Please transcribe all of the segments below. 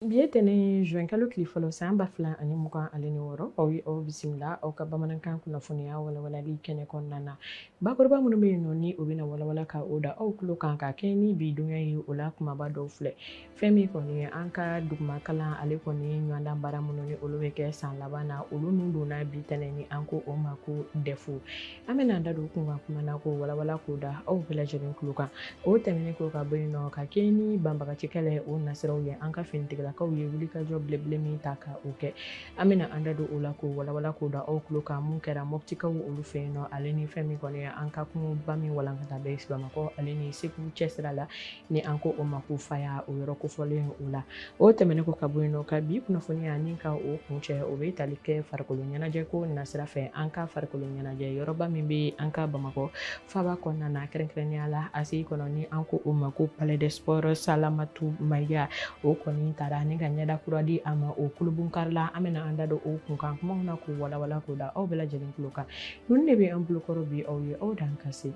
Bi ye tɛnɛn juin kalo tile fɔlɔ san ba fila ani mugan ale ni wɔɔrɔ aw ye aw bisimila aw ka bamanankan kunnafoniya walawalali kɛnɛ kɔnɔna na bakuruba minnu bɛ yen nɔ ni o bɛna walawala ka o da aw tulo kan ka kɛɲɛ ni bi dunya ye o la kumaba dɔw filɛ fɛn min kɔni an ka duguma kalan ale kɔni ye ɲɔgɔndan baara minnu ni olu bɛ kɛ san laban na olu nun donna bi tɛnɛn ni an ko o ma ko dɛfu an bɛna an da don kunkan kuma na k'o walawala k'o da aw bɛɛ lajɛlen tulo kan o tɛmɛnen kɔ ka bɔ yen nɔ ka kɛ ni banbagaci kɛlɛ o nasiraw ye an ka finitigilakaw ye wulikajɔ belebele min ta ka o kɛ an bɛna an da don o la k'o walawala k'o da aw tulo kan min kɛra mɔptikaw olu fɛ yen nɔ ale ni fɛn min kɔni an ka kungoba min walankata bɛ bamakɔ ale ni segu cɛsira la ni an ko o ma ko faya o yɔrɔ kofɔlen o la o tɛmɛnen kɔ ka bɔ yen nɔ ka bi kunnafoniya ni ka o kuncɛ o bɛ tali kɛ farikolo ɲɛnajɛ ko nasira fɛ an ka farikolo ɲɛnajɛ yɔrɔba min bɛ an ka bamakɔ faba kɔnɔna na kɛrɛnkɛrɛnnenya la ACI kɔnɔ ni an ko o ma ko palais des sports salamatu mayiga o kɔni taara ni ka ɲɛda kura di a ma o kulubonkari la an bɛna an da don o kunkan kumaw na k'o walawala k'o da aw bɛɛ lajɛlen tulo kan Ninnu de bɛ an bolokɔrɔ bi aw ye aw dan ka se.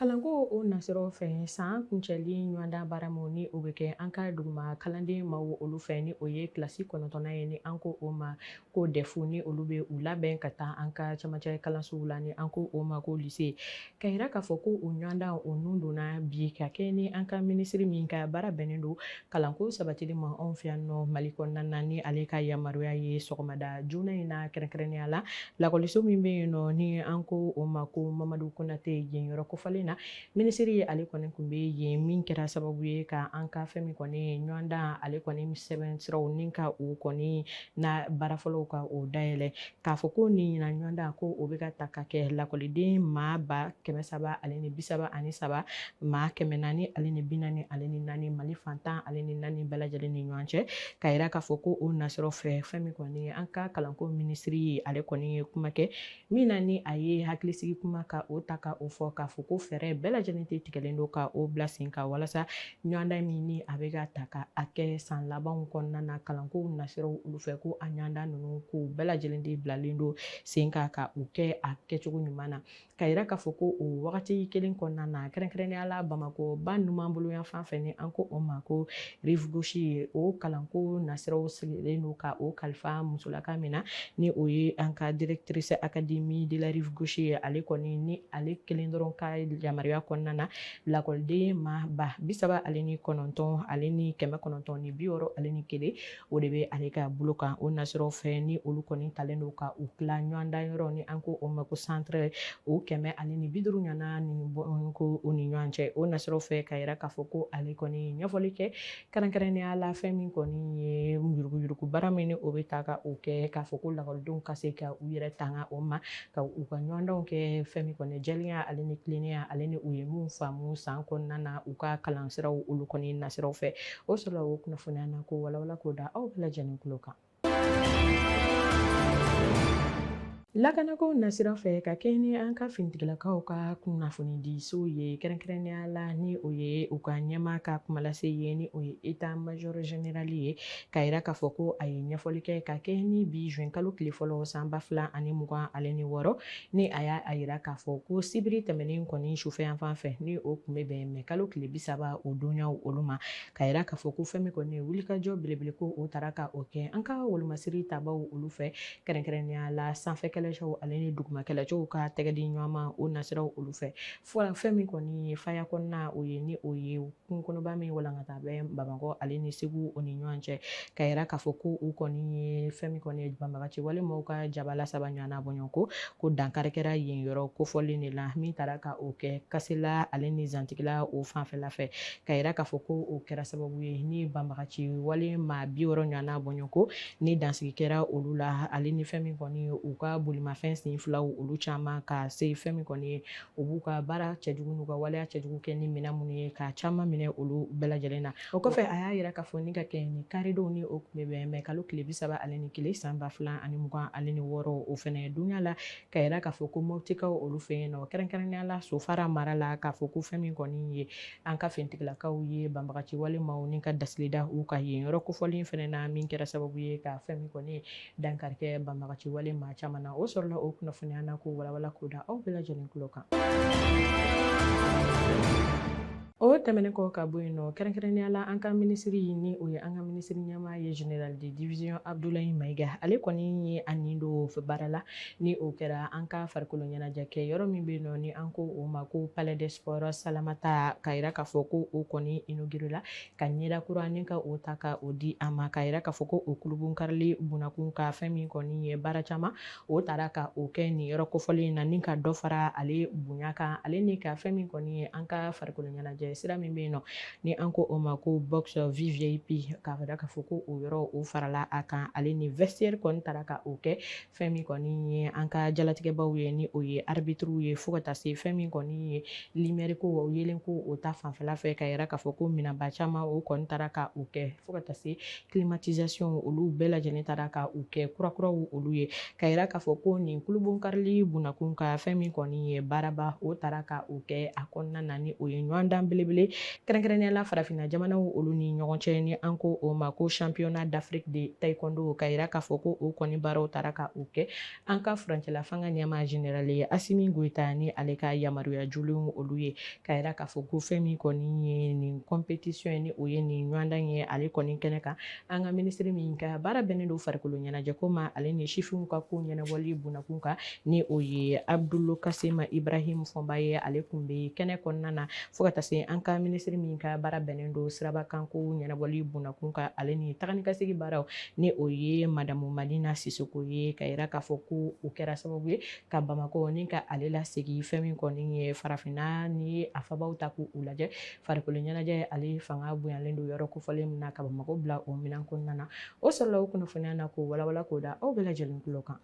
Kalanko o nasiraw fɛ san kuncɛli ɲɔgɔndan baara min ni o bɛ kɛ an ka duguma kalanden maaw olu fɛ ni o ye kilasi kɔnɔntɔnnan ye ni an ko o ma ko dɛfu ni olu bɛ u labɛn ka taa an ka camancɛ kalansow la ni an ko o ma ko lise Ka yira k'a fɔ ko o ɲɔgɔndan o nun donna bi ka kɛ ni an ka minisiri min ka baara bɛnnen don kalanko sabatili ma anw fɛ yan nɔ mali kɔnɔna na ni ale ka yamaruya ye sɔgɔmada joona in na kɛrɛnkɛrɛnnenya la lakɔliso min bɛ yen nɔ ni an ko o ma ko mamadu konatɛ yen yɔrɔ kofɔlen na minisiri ye ale kɔni tun bɛ yen min kɛra sababu ye ka an ka fɛn min kɔni ɲɔgɔndan ale kɔni sɛbɛn siraw ni ka o kɔni na baara fɔlɔw ka o dayɛlɛ k'a fɔ ko nin ɲinan ɲɔgɔndan ko o bɛ ka ta ka kɛ lakɔliden maa ba kɛmɛ saba ale ni bi saba ani saba maa kɛmɛ naani ale ni bi naani ale ni naani mali fan tan ale ni naani bɛɛ lajɛlen ni ɲɔgɔn cɛ ka yira k'a fɔ ko o nasiraw fɛ fɛn min kɔni an ka kalanko minisiri ye ale kɔni ye kuma kɛ min na ni a ye hakilisigi kuma ka o ta ka o fɔ k'a fɔ ko fɛɛrɛ bɛɛ lajɛlen de tigɛlen don ka o bila sen kan walasa ɲɔgɔndan min ni a bɛ ka ta ka a kɛ san labanw kɔnɔna na kalanko nasiraw olu fɛ ko a ɲɔgɔndan ninnu ko bɛɛ lajɛlen de bilalen don sen kan ka u kɛ a kɛcogo ɲuman na ka yira k'a fɔ ko o wagati kelen kɔnɔna na kɛrɛnkɛrɛnnenya la bamakɔ ba numan bolo yanfan fɛ ni an ko o ma ko rive gauche ye o kalanko nasiraw sigilen don ka o kalifa musolaka min na ni o ye an ka directrice académie de la rive gauche ye ale kɔni ni ale kelen dɔrɔn ka yamaruya kɔnɔna na lakɔliden maa ba bi saba ale ni kɔnɔntɔn ale ni kɛmɛ kɔnɔntɔn ni bi wɔɔrɔ ale ni kelen o de bɛ ale ka bolo kan o nasiraw fɛ ni olu kɔni talen don ka u tila ɲɔgɔndan yɔrɔ ni an ko o ma ko centre o kɛmɛ ale ni bi duuru ɲɔgɔnna ni ko o ni ɲɔgɔn cɛ o nasiraw fɛ ka yira k'a fɔ ko ale kɔni ɲɛfɔli kɛ kɛrɛnkɛrɛnnenya la fɛn min kɔni ye yuruguyurugu baara min ni o bɛ taa ka o kɛ k'a fɔ ko lakɔlidenw ka se ka u yɛrɛ tanga o ma ka u ka ɲɔgɔndanw kɛ fɛn min kɔni jɛlenya ale ni tilennenya ale ni u ye min faamu san kɔnɔna na u ka kalansiraw olu kɔni nasiraw fɛ o sɔrɔla o kunnafoniya na k'o walawala k'o da aw bɛɛ lajɛlen tulo kan Lakanako nasira fɛ ka kɛɲɛ ni an ka finitigilakaw ka kunnafonidiso ye kɛrɛnkɛrɛnnenya la ni o ye u ka ɲɛmaa ka kumalase ye ni o ye état major général ye ka yira k'a fɔ ko a ye ɲɛfɔli kɛ ka kɛɲɛ ni bi zuwɛn kalo tile fɔlɔ san ba fila ani mugan ale ni wɔɔrɔ ni a y'a yira k'a fɔ ko sibiri tɛmɛnen kɔni sufɛ yanfan fɛ ni o tun bɛ bɛn mɛ kalo tile bi saba o donyaw olu ma ka yira k'a fɔ ko fɛn min kɔni ye wulikajɔ belebele ko o taara ka o kɛ an ka wolomasiri tabaw olu fɛ kɛrɛnkɛrɛnnenya la sanfɛ kɛlɛcɛw ale ni duguma kɛlɛcɛw ka tɛgɛdi ɲɔgɔnma o nasiraw olu fɛ fo fɛn min kɔni ye faya kɔnɔna o ye ni o ye kungo kɔnɔba min walankata bɛ bamakɔ ale ni segu o ni ɲɔgɔn cɛ ka yira k'a fɔ ko u kɔni ye fɛn min kɔni ye banbagaci wale maaw ka jabala saba ɲɔgɔnna bɔɲɔgɔnko ko dankari kɛra yen yɔrɔ kofɔlen de la min taara ka o kɛ kasela ale ni zantigila o fanfɛla fɛ ka yira k'a fɔ ko o kɛra sababu ye ni banbagaci wale maa bi wɔɔrɔ ɲɔgɔnna bɔɲɔgɔnko ni dansigi kɛra olu la ale ni fɛn min kɔni u ka bolimafɛn sen filaw olu caman ka se fɛn min kɔni ye u b'u ka baara cɛjugu n'u ka waleya cɛjugu kɛ ni minɛn minnu ye ka caman minɛ olu bɛɛ lajɛlen na o kɔfɛ a y'a yira k'a fɔ ni ka kɛɲɛ ni karidon ni o tun bɛ bɛn mɛ kalo tile bi saba ale ni kelen san ba fila ani mugan ale ni wɔɔrɔ o fɛnɛ donya la ka yira k'a fɔ ko motikaw olu fɛ yen nɔ kɛrɛnkɛrɛnnenya la sofara mara la k'a fɔ ko fɛn min kɔni ye an ka finitigilakaw ye banbagaci wale maa ni ka dasili da u kan yen yɔrɔ kofɔlen fɛnɛ na min kɛra sababu ye ka fɛn min kɔni dankari kɛ banbagaci wale maa caman na o sɔrɔla o kunnafoniya na k'o walawala k'o da aw bɛɛ lajɛlen tulo kan o tɛmɛnen kɔ ka bɔ yen nɔ kɛrɛnkɛrɛnnenya la an ka minisiri ni o ye an ka minisiri ɲɛmaa ye général de division Abdoulaye Maiga ale kɔni ye a nin don baara la Ni o kɛra an ka farikolo ɲɛnajɛ kɛ yɔrɔ min bɛ yen nɔ ni an ko o ma ko palais des sports Salamata ka yira k'a fɔ ko o kɔni inauguré la ka ɲɛda kura ni ka o ta ka o di a ma ka yira k'a fɔ ko o kurunbonkarili bunakun ka fɛn min kɔni ye baara caman o taara ka o kɛ nin yɔrɔ kofɔlen in na ni ka dɔ fara ale bonya kan ale ni ka fɛn min kɔni ye an ka farikolo ɲɛnajɛ sira min bɛ yen nɔ ni an ko o ma ko box vvip ka yira k'a fɔ ko o yɔrɔ o farala a kan ale ni vestiaire kɔni taara ka o kɛ fɛn min kɔni ye an ka jalatigɛbaw ye ni o ye arbitriw ye fo ka taa se fɛn min kɔni ye limɛri ko o yelen ko o ta fanfɛla fɛ ka yira k'a fɔ ko minɛnba caman o kɔni taara ka o kɛ fo ka taa se climatisation olu bɛɛ lajɛlen taara ka u kɛ kurakuraw olu ye ka yira k'a fɔ ko nin kulubon karili bunakun kan fɛn min kɔni ye baaraba o taara ka o kɛ a kɔnɔna na ni o ye ɲɔgɔndan belebele kɛrɛnkɛrɛnnenya la farafinna jamanaw olu ni ɲɔgɔn cɛ ni an ko o ma ko championnat d'afrique de taekwondo ka yira k'a fɔ ko o kɔni baaraw taara ka o kɛ an ka furancɛla fanga ɲɛmaa generali ye asimi goyita ni ale ka yamaruya jolenw olu ye ka yira k'a fɔ ko fɛn min kɔni ye nin kɔnpetisiɔn ye ni o ye nin ɲɔgɔndan ye ale kɔni kɛnɛ kan an ka minisiri min ka baara bɛnnen don farikolo ɲɛnajɛko ma ale ni sifinw ka ko ɲɛnabɔli bunakun kan ni o ye abdulu kasimu ibrahim fɔnba ye ale kun bɛ kɛnɛ kɔnɔna na fo ka taa se an ka minisiri min ka baara bɛnnen don sirabakanko ɲɛnabɔli bunakun kan ale ni taganikasegi baaraw ni o ye madamu madina sisoko ye ka yira k'a fɔ ko o kɛra sababu ye ka bamakɔ ni ka ale lasegin fɛn min kɔni ye farafinna ni a faabaw ta k'u lajɛ farikolo ɲɛnajɛ ale fanga bonyalen don yɔrɔ kofɔlen min na ka bamakɔ bila o minan kɔnɔna na o sɔrɔla o kunnafoniya na k'o walawala k'o da aw bɛɛ lajɛlen tulo kan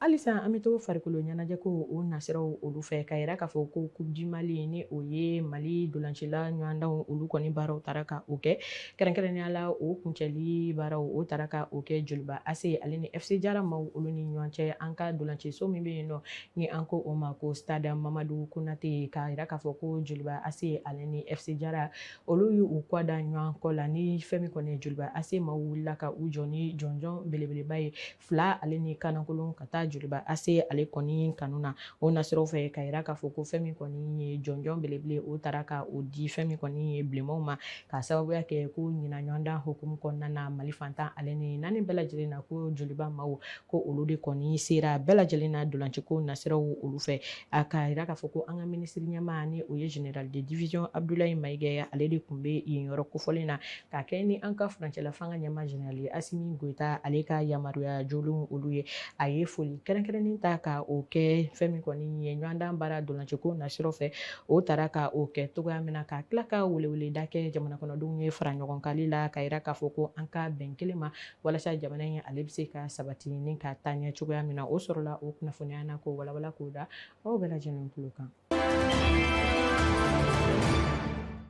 halisa an bɛ to farikolo ɲɛnajɛ ko o nasiraw olu fɛ ka yira k'a fɔ ko coupe du mali ni o ye mali dolancila ɲɔgɔndanw olu kɔni baaraw taara ka o kɛ kɛrɛnkɛrɛnnenya la o kuncɛli baaraw o taara ka o kɛ joliba ase ale ni fc jara maw olu ni ɲɔgɔn cɛ an ka dolanciso min bɛ yen nɔ ni an ko o ma ko stade mamadu konate ka yira k'a fɔ ko joliba ase ale ni fc jara olu y'u kɔ da ɲɔgɔn kɔ la ni fɛn min kɔni ye joliba ase maw wulila ka u jɔ ni jɔnjɔn belebeleba ye fila ale ni kanankolon ka taa joliba ase ale kɔni kanu na o nasiraw fɛ ka yira k'a fɔ ko fɛn min kɔni ye jɔnjɔn belebele o taara ka o di fɛn min kɔni ye bilenmanw ma ka sababuya kɛ ko ɲinan ɲɔgɔndan hukumu kɔnɔna na mali fan tan ale ni naani bɛɛ lajɛlen na ko joliba maw ko olu de kɔni sera bɛɛ lajɛlen na dolanciko nasiraw olu fɛ a ka yira k'a fɔ ko an ka minisiri ɲɛmaa ni o ye general de division abdulayi mayiga ye ale de kun bɛ yen yɔrɔ kofɔlen na k'a kɛ ni an ka furancɛla fanga ɲɛmaa general ye asimi goyita ale ka yamaruya jolenw olu ye a ye foli kɛrɛnkɛrɛnnen ta ka o kɛ fɛn min kɔni ye ɲɔgɔndan baara dolanciko nasiraw fɛ o taara ka o kɛ cogoya min na ka tila ka weleweleda kɛ jamanakɔnɔdenw ye fara ɲɔgɔn kali la ka yira k'a fɔ ko an ka bɛn kelen ma walasa jamana in ale bɛ se ka sabati ni ka taa ɲɛ cogoya min na o sɔrɔla o kunnafoniya na k'o walawala k'o da aw bɛɛ lajɛlen tulo kan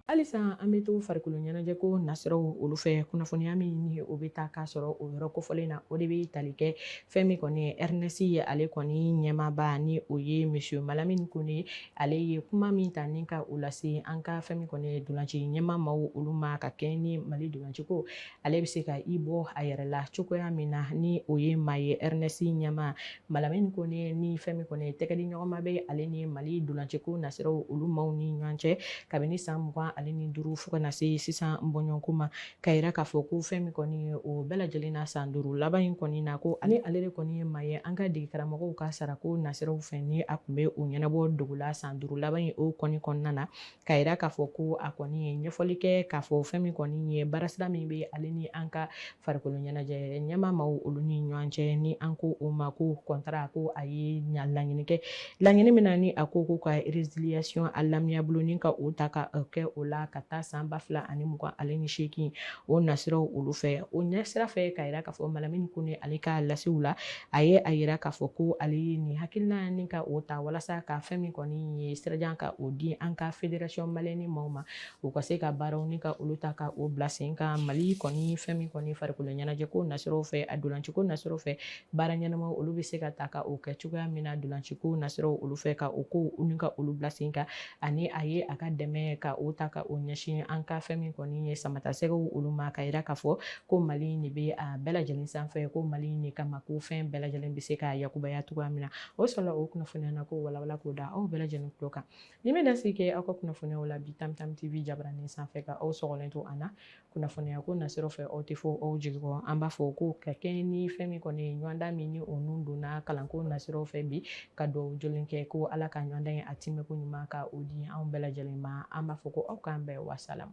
halisa an bɛ to farikolo ɲɛnajɛ ko nasiraw olu fɛ kunnafoniya min ni o bɛ taa k'a sɔrɔ o yɔrɔ kofɔlen na o de bɛ tali kɛ fɛn min kɔni ye airness ye ale kɔni ɲɛmaaba ni o ye monsieur malamini kone ale ye kuma min ta ni ka o lase an ka fɛn min kɔni ye dolanci ɲɛmaa maaw olu ma ka kɛɲɛ ni mali dolanciko ale bɛ se ka i bɔ a yɛrɛ la cogoya min na ni o ye maa ye airness ɲɛmaa malamini kone ni fɛn min kɔni ye tɛgɛdiɲɔgɔnma bɛ ale ni mali dolanciko nasiraw olu maaw ni ɲɔgɔn cɛ kabini san mugan ale ni duuru fo ka na se sisan bɔɲɔgɔnko ma ka yira k'a fɔ ko fɛn min kɔni ye o bɛɛ lajɛlen na san duuru laban in kɔni na ko ani ale de kɔni ye maa ye an ka dege karamɔgɔw ka sarako nasiraw fɛ ni a kun bɛ o ɲɛnabɔ dogo la san duuru laban in o kɔni kɔnɔna na ka yira k'a fɔ ko a kɔni ye ɲɛfɔli kɛ k'a fɔ fɛn min kɔni ye baarasira min bɛ ale ni an ka farikolo ɲɛnajɛ ɲɛmaa maaw olu ni ɲɔgɔn cɛ ni an ko o ma ko contrat ko a ye ɲa laɲini kɛ laɲini min na ni a ko ko ka résiliation à l'amiable ni ka o ta ka kɛ o la ka taa san ba fila ani mugan ale ni seegin o nasiraw olu fɛ o ɲɛsira fɛ ka yira k'a fɔ malamini kone ale ka lasiw la a ye a yira k'a fɔ ko ale ye nin hakilina ni ka o ta walasa ka fɛn min kɔni ye sirajan ka o di an ka fédération malienne maaw ma u ka se ka baaraw ni ka olu ta ka o bila sen kan mali kɔni fɛn min kɔni farikolo ɲɛnajɛ ko nasiraw fɛ a dolanciko nasiraw fɛ baara ɲɛnamaw olu bɛ se ka ta ka o kɛ cogoya min na dolanciko nasiraw olu fɛ ka o ko ni ka olu bila sen ka ani a ye a ka dɛmɛ ka o ta ka o ɲɛsin an ka fɛn min kɔni ye samatasɛgɛw olu ma ka yira k'a fɔ ko mali de bɛ a bɛɛ lajɛlen sanfɛ ko mali de kama ko fɛn bɛɛ lajɛlen bɛ se ka yakubaya cogoya min na o sɔrɔla o kunnafoniya na k'o walawala k'o da aw bɛɛ lajɛlen tulo kan nin bɛ dansigi kɛ aw ka kunnafoniyaw la bi tam tam tv jabaranin sanfɛ ka aw sɔgɔlen to an na kunnafoniya ko nasiraw fɛ aw tɛ fɔ aw jigi kɔ an b'a fɔ ko ka kɛɲɛ ni fɛn min kɔni ye ɲɔgɔndan min ni o nun donna kalanko nasiraw fɛ bi ka dugawu jɔlen kɛ ko ala ka ɲɔgɔndan in a tɛmɛko ɲuman ka o di anw bɛɛ lajɛlen ma an b'a fɔ ko aw k'an bɛn wasalamu